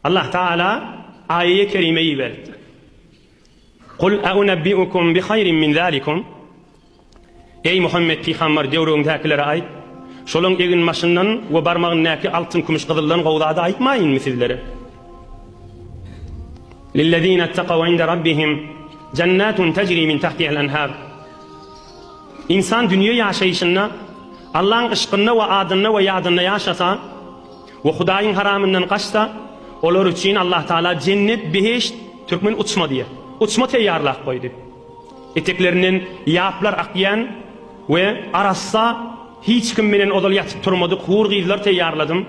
Allah Tagala aýe kerime iberipdir. Kul aunabbiukum bi haýrin min zalikum. Eý Muhammet pygamber döwrüňdäkilere aýt, şolaň egin maşyndan we barmagyndaky altyn kümüş gyzyldan gowy zady aýtmaýynmy sizlere? Lillezina taqaw inde rabbihim jannatun tajri min tahtiha al-anhar. Insan dünýe ýaşaýşynda Allaň yşkynda we adynda we ýadynda ýaşasa, We Hudaýyň haramyndan gaçsa, olar üçin Allah Taala jennet, behişt, türkmen uçma diýýär, uçma teýýarlap goýdy. Eteklerinden ýaplar akýan we arassa, hiç kim bilen ozal ýatyp turmadyk hur gyzlar teýýarladym.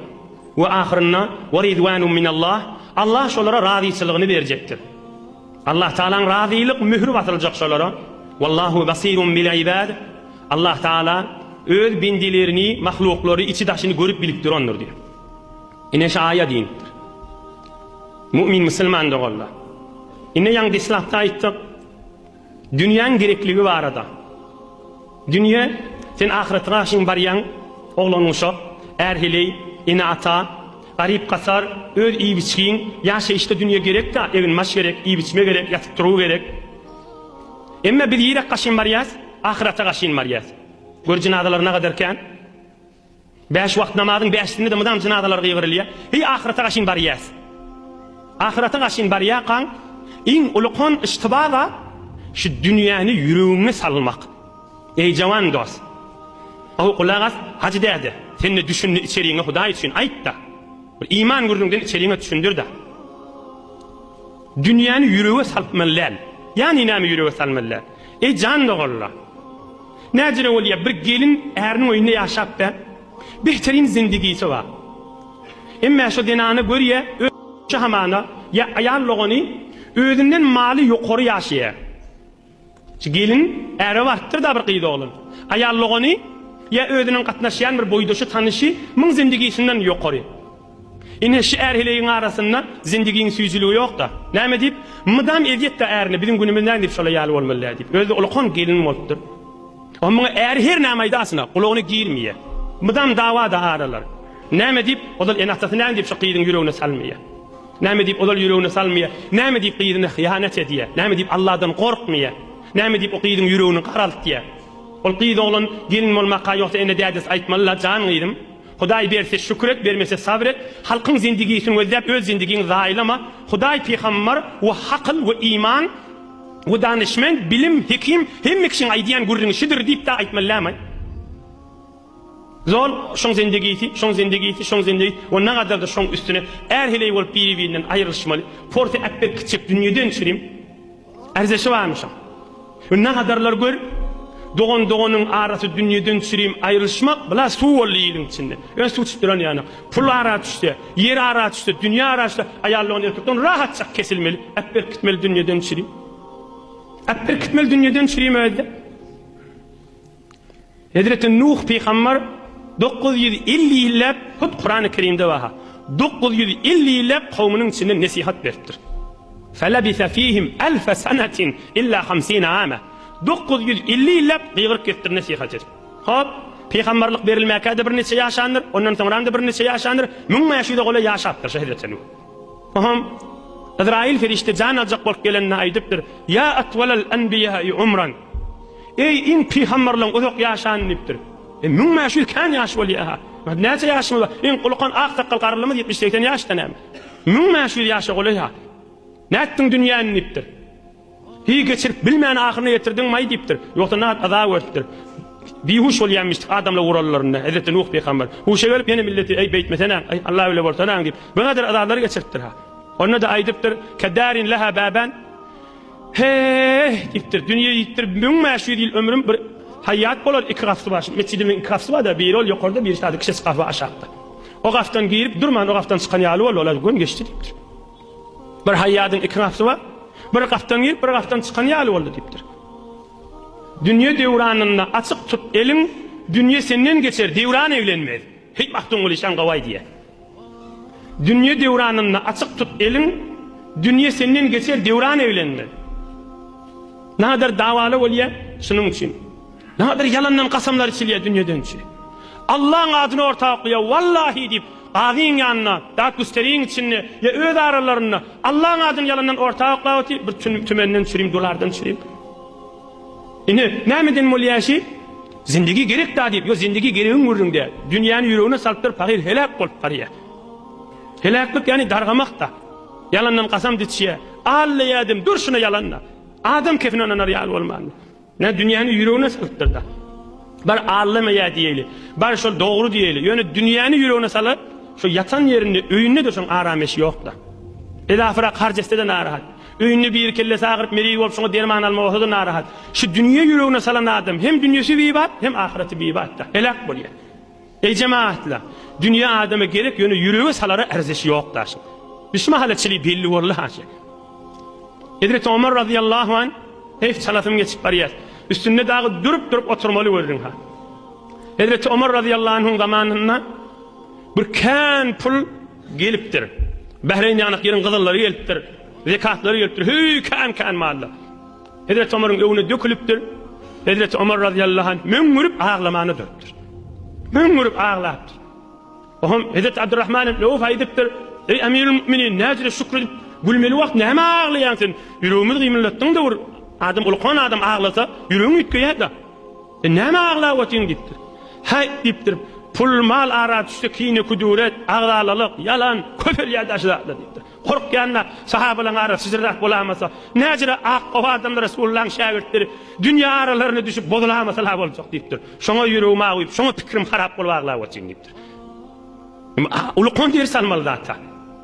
We ahyrynda, Wa ridwanum minallah, Allah şolara razyçylygyny berjekdir. Allahtagalaň razylyk möhüri basyljak şolara, Wallahu basirun bil ibad, Allahtagala Öz bendilerini, mahluklary içi-daşyny görüp bilip durandyr diýip. Ine şu aýat inipdir. Mu'min musulman doganlar. Ine ýaňy deslapda aýtdyk. Dünýäň gerekligi barada. Dünýe, sen ahyratra şin barýaň, oglan-uşak, är-heleý, ene-ata, garyp-gasar, öz iýip-içgiň, ýaşaýyşda dünýe gerek-de, egin-maş gerek, iýip-içme gerek, ýatyp-turgy gerek. Emma biz ýerek gaşyn barýas, ahyrata gaşyn barýas. Gör jenazalaryna gadar kän. Bäş wagt namazyň bäşisinde-de mydam jynazalar gygyrylýar. Heý, ahyrata gaşyn barýas. Ahyrata gaşyn barýarkaň, iň ulukan yştyba zat, şu dünýäni ýüregiňe salmak. Eý, jawan dost! Gowy gulak as, Hajy däde, sen-de düşündi içerigiňe Hudaý üçin aýt-da! Bir iman gürrüňden içerigiňe düşündir-de! Dünýäni ýürege salmaly däl. Ýa-ni näme ýürege salmaly däl? Eý, jan doganlar! Näcele bolýa, bir gelin äriniň öýünde ýaşapda behterin zindigisi bar. Emmä şo zenana görýä öýçi hamana ýa aýal dogany özünden maly ýokary ýaşaýa. Şo gelin äre barypdyrda bir gyz oglan. Aýal dogany ýa özüniň gatnaşýan bir boýdaşy tanyşy myň zindigisinden ýokary. Ine, şu är heleýiň arasynda zindigiň süýjüligi ýok-da. Näme diýip, mydam ezýet-dä ärine, biziň günümiz näme diýip şolar ýaly bolmaly-dä diýip. Özi-de ulkan gelin bolupdyr. Oň muňa äri her näme aýdasyn-a, gulagyna girmeýär. Mydam dawa-da aralar. Näme diýip, ozal ene-atasy näme diýip şu gyzyň ýüregine salmaýar. Näme diýip, ozal ýüregine salmaýar. Näme diýip, gyzyna hyýanat edýär. Näme diýip, Alladan gorkmaýar. Näme diýip, o gyzyň ýüregini garaltýar. Ol gyz oglan gelin bolmaka ýogsa ene-dädesi aýtmaly-la, Jan gyzym, Hudaý berse şükür et, bermese sabyr et, halkyň zindigisini gözläp öz zindigiňi zaýalama, Hudaý pygambar we hakyl we iman we danyşmend, bilim, hekim, hemme kişiň aýdýan gürrüňi şudur diýip da aýtmallaýmaý. Zol, şoň zindigisi, şoň zindigisi, şoň zindigi we nagadar-da şoň üstüne är heleý bolup biri-birinden aýrylyşmaly. Porsy äpbir kiçijek dünýeden çürim. Arzeşi barmyşam. Ynha hadarlar gör. Dogan doganyň arasy dünýeden çürim aýrylyşmak bla suw boldy iliň içinde. Öň suw çykyp duran ýanak. Pul ara düşse, ýer ara düşse, dünýe ara düşse aýal dogan erkekden rahatjak kesilmeli. Äp berkitmeli dünýeden çürim. Äp berkitmeli dünýeden çürim özde. Hezreti Nuh pygamber dokuz ýüz elli ýylläp, hut Kurany Kerimde barha, dokuz ýüz elli ýylläp kowmynyň içinde nesihat beripdir. Felebise fihim elfe senetin illa hamsine ame. Dokuz ýüz elli ýylläp gygyryp gitdir nesihat edip. Hop, pygamberlik berilmäkä-de birniçe ýaşandyr, ondan soňram-da birniçe ýaşandyr, müň bäş ýüze golaý ýaşapdyr şo Hezreti Nuh. Oňa Yzraýyl perişde jan aljak bolup gelende aýdypdyr, Ýa atwalal anbiýaý umran, Eý, iň pygamberleň uzak ýaşany diýipdir. E, müň bäş ýüz kän ýaş bolýa-ha. Indi näçe ýaşymyz bar? Iň ulukan ak sakgal garrylymyz ýetmiş-segsen ýaşda näme? Müň bäş ýüz ýaşa golaý-ha. Nätdiň dünýäni diýipdir. Heý, geçirip bilmän ahyryna ýetirdiňmaý diýipdir. Ýogsa nagt aza görüpdir. Bihuş bolýamyşdyk adamlar urallarynda. Hezreti Nuh pygamber, Huşa gelip, ýene milleti, Eý, beýtmesenaň, eý, Alla öwle bolsanaň diýip, bu gadyr azalary geçiripdir-ha. Onda-da aýdypdyr, Kedarin leha baban, Heý, diýipdir, dünýe ýitdir, müň bäş ýüz ýyl ömrüm bir haýýat bolar, iki gapysy bar. Şu metjidimiň iki gapysy bar-da, biri ol ýokarda, birisi-de ikisi gapy aşakda. O gapdan girip durman, o gapdan çykan ýaly bol, ol-a göni geçdi diýipdir. Bir haýýadyň iki gapysy bar. Bir gapdan girip, bir gapdan çykan ýaly boldy diýipdir. Dünýe döwranynda açyk tut eliň, dünýe senden geçer, döwran eglenmez. Heý Magtymguly şan gawaý diýýär. Dünýe döwranynda açyk tut eliň, dünýe senden geçer, döwran eglenmez. Näder dawala bolýar şunuň üçin. Näder ýalandan gasamlar içilýär dünýedençi. Allaň adyny orta okyýar, wallahi diýip, Gazyň ýanynda, dat güsteriň içinde we öz aralarynda Allaň adyny ýalandan orta oklap otyr, bir tümenden çürim, dolardan çürim. Ine, nämeden bolýar işi? Zindigi gerek-dä diýip, ýo zindigi geregiň gürrüňde, dünýäni ýüregine salypdyr, pahyr heläk bolup barýar. Heläklik ýagny dargamak-da. Ýalandan kasam diçýär. Alla ýadim, dur şuna ýalan-da. Adam kefine ynanar ýaly bolmandy. Nä dünýäni ýüregine syrtdyr-da. Bar Alla meýä diýeli. Bar şol dogry diýeli. Ýöne dünýäni ýüregine salyp, şu ýatan ýerinde, öýünde dursaň aram-eş ýok-da. Elafirak harç etse-de narahat. Öýünde biri kellesi agyryp, meriý bolup şoňa derman alma bolsa-da narahat. Şu dünýe ýüregine salan adam hem dünýesi bibat, hem ahyraty bibat-da. Heläk bolýar. Eý jemaatlar! Dünýe adama gerek, ýöne ýürege salara erzeşi ýok daşyň. Biz şu mahala çili belli boldy haşa. Hezreti Omar razyýallahu anh, Heý, çalasym geçip barýar. Üstünde dagy durup-durup oturmaly gördüň ha. Hezreti Omar razyýallahu anhuň zamanynda bir kän pul gelipdir. Bähreýin ýanak ýeriň gyzyllary gelipdir, zekatlary gelipdir. Heý, kän-kän mallar. Hezreti Omaryň öňüne dökülipdir. Hezreti Omar razyýallahu anh möňňürip aglamana durupdyr. Möňňürip aglapdyr. Oňam Hezreti Abdurrahman ibn Awf aýdypdyr, Eý Emirul Müminin, näjire şükür edip gülmeli wagt nämä aglaýaň sen? Ýüregimizi gymyldatdyň-da bir adam, ulukan adam aglasa, ýüregiň üýtgeýär-de. Sen nämä aglap otyň diýipdir. Häý diýipdir, pul-mal ara düşse kine-küdüret, agzalalyk, ýalan, köpelýär daşy zatlar diýipdir. Gorkýan-da, sahabalaň arasy jyrrak bolamasa, näjire ak gowy adamlar Resulullahyň şägirtleri dünýe aralaryna düşüp bozulamasalar boljak diýipdir. Şoňa ýüregim awuýup, şoňa pikirim harap bolup aglap otyryn diýipdir. Uly kon deri salmaly zat-a.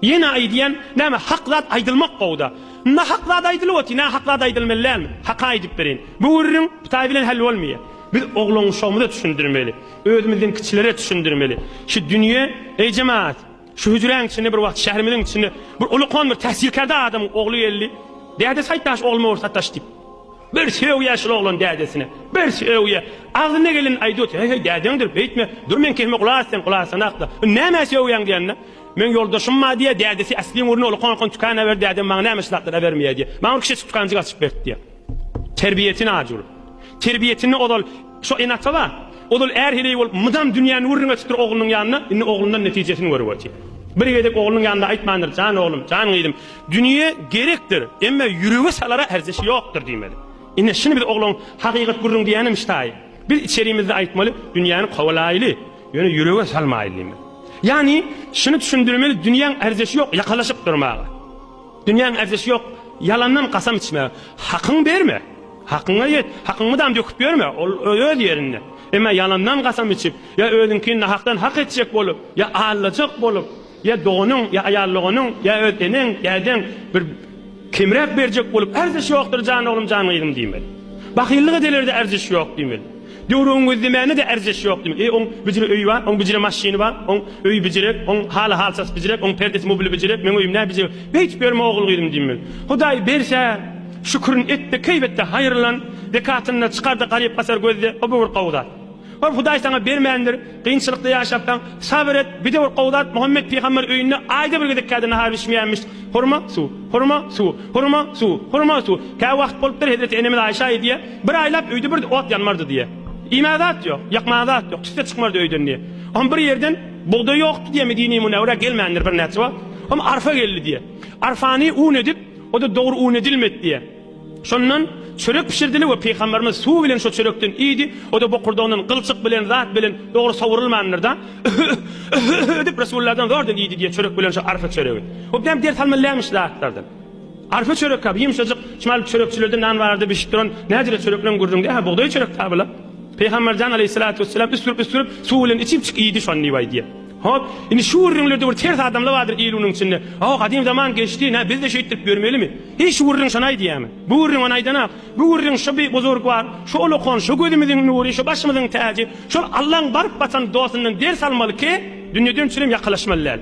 Ýene aýdýan, näme hak zat aýdylmak gowy-da. Nahak zat aýdylyp otyr, nähak zat aýdylmaly dälmi? Haka aýdyp bereýin. Bu gürrüň Hytaý bilen hell bolmaýar. Biz oglan-uşagymyza düşündirmeli. Özümizden kiçilere düşündirmeli. Şu dünýe, eý jemagat! Şu hüjräň içinde bir wagt şäherimiziň içinde bir ulukon bir tähsilkärde adamyň ogly geldi. Dädesi aýtdaş ogluma bir sataş diýip. Bir söýýä şul oglan dädesine. Bir söýýä. Agzyna geleni aýdyot. Heý heý dädeňdir beýtme. Dur men kehime gulak asýan gulak asanakda. Nämä söýýäň diýende. Meň ýoldaşym bar diýýä dädesi äsli umurny ulukon ulukon tükana berdi dädem maňa näme şylatlary abermeýä diýýä. Maňa bir kiçijik tükanjyk açyp berdi diýýä. Terbiýesini ajur. Terbiýesini ozal şo ene ata bar. Ozal är heleý bolup mydam dünýäni gürrüň etipdir oglunyň ýanynda. Indi oglundan netijesini görüp otyr. Bir gezek oglunyň ýanynda aýtmandyr, Jan oglum, jan gyzym, dünýe gerekdir, emma ýürege salara erzeşi ýokdur diýmeli. Ine şuny biz oglan hakykat gürrüň diýenem ştaý. Biz içerimizde aýtmaly, dünýäni kowalaýly, ýöne ýürege salmaýly diýmeli. Ýagny şuny düşündirmeli dünýäň erzeşi ýok ýakalaşyp durmaga. Dünýäň erzişi ýok, ýalandan kasam içme. Hakyňy berme, hakyňa ýet, hakyň mydam döküp ýörme, ol öz ýerinde. Emma ýalandan kasam içip, ýa özüňkini nahakdan hak etjek bolup, ýa aldajak bolup, ýa doganyň, ýa aýal doganyň, ýa öz eneň, dädeň bir kemräk berjek bolup, Erzişi ýokdur jan oglum, jan gyzym diýmeli. Bahyllyk edeler-de erzişi ýok diýmeli. Döwrüňiz diýmäne-de erjeş ýok diýmek. E, oň bijire öýi bar, oň bijire maşyny bar, oň öýi bijirek, oň haly halçasy bijirek, oň perdesi mubili bijirek, meň öýüm nä bijirek. Beýtip ýörme ogul-gyzym diýmeli. Hudaý berse, şükürini et-de, keýbet-de, haýyrlan, zekatyn-da çykar-da, garyp-gasar gözle, o-bu bir gowy zat. Hop, Hudaý saňa bermändir. Kynçylykda ýaşapsaň, sabyr et, bide bir gowy zat, Muhammet pygamber öýünde aýda bir gezek kädi nahar bişmeýänmiş. Hurma, suw. Hurma, suw. Hurma, suw. Hurma, suw. Kä wagt bolupdyr, hezreti enemiz Aýşa aýdýa, Bir aýlap öýde bir ot ýanmardy diýe. Iýmäge zat ýok, ýakmaga zat ýok, tüsse çykmardy öýden diýe. Hom bir ýerden bugdaý ýokdy diýe Medine-i Münewwerä gelmändir birnäçe wagt. Hom arfa geldi diýe. Arfany un edip, o-da dogry un edilmedi diýe. Şondan çörek bişirdiler we pygamberimiz suw bilen şo çörekden iýdi, o-da bokurdagyndan gylçyk bilen zat bilen dogry sowrulmandyr-da, Öh-öh-öh-öh-öh-öh edip Resullardan zordan iýdi diýýär çörek bilen şo arfa çöregi. O birem ders almalylämiş şu zatlardan. Arfa çörek-ä bu ýumşajyk, çmal çörekçilerde nan barada bişip duran näjire çörekleň gürrüňde hä bugdaý çörek-dä bula. Pygamber jan aleýhissalatu wesselam üsgürip-üsgürip suw bilen içipjik iýdi şony diýip aýdýar. Hop, indi şu gürrüňlerde bir ters adamly bardyr il-günüň içinde. Aw, gadym zaman geçdi, nä, biz-de şeýtdirip ýörmelimi? Heý, şu gürrüň şony aýdýarmy? Bu gürrüň ony aýdan-ak. Bu gürrüň şu bi buzurgwar, şu ulukhan, şu gözümiziň nury, şu başymyzyň täji, şol Allaň baryp batan dostundan ders almaly ki, dünýeden çürim ýakalaşmaly däl.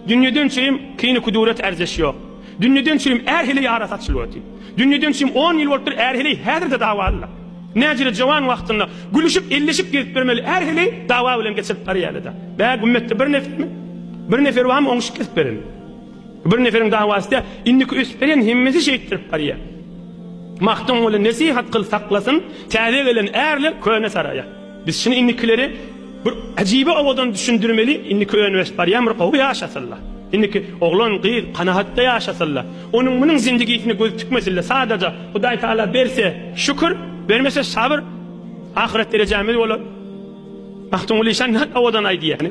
Dünýeden çürim kini-kudurat-ärzeş ýok. Dünýeden çürim är hili ýara saçyl wati. Dünýeden çim on ýyl bolupdyr är heleý häzirde dawalylar. Näjire jowan wagtynda gülüşip elleşip gezip bermeli är heleý dawa bilen geçirip barýalada. Bä gümmetde bir nefermi? Bir nefer barmy oňuşyp gezip beren? Bir neferiň dawasy däl indiki ösüp berýän hemmesi şeýtdirip barýa. Magtymguly nesihat kyl saklasyn täze gelen ärler köne saraýa. Biz şuny indikileri bir ajibi owadan düşündirmeli, indiki ön ösüp barýanmyr gowy ýaşasynla. Indiki oglan, gyz kanagatda ýaşasynla. Onuň munuň zindigisine gözi tükmesinle sadaja Hudaý Taala berse şükür, bermese sabyr ahyret derejämiz bolar. Magtymguly şa nahak owadan aýdýar.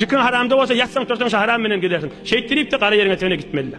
Dükan haramda bolsa ýatsaň-tursaň şaharam menen gezersiň. Şeýtdiripde gara ýeriňe-töne gitmeli-le.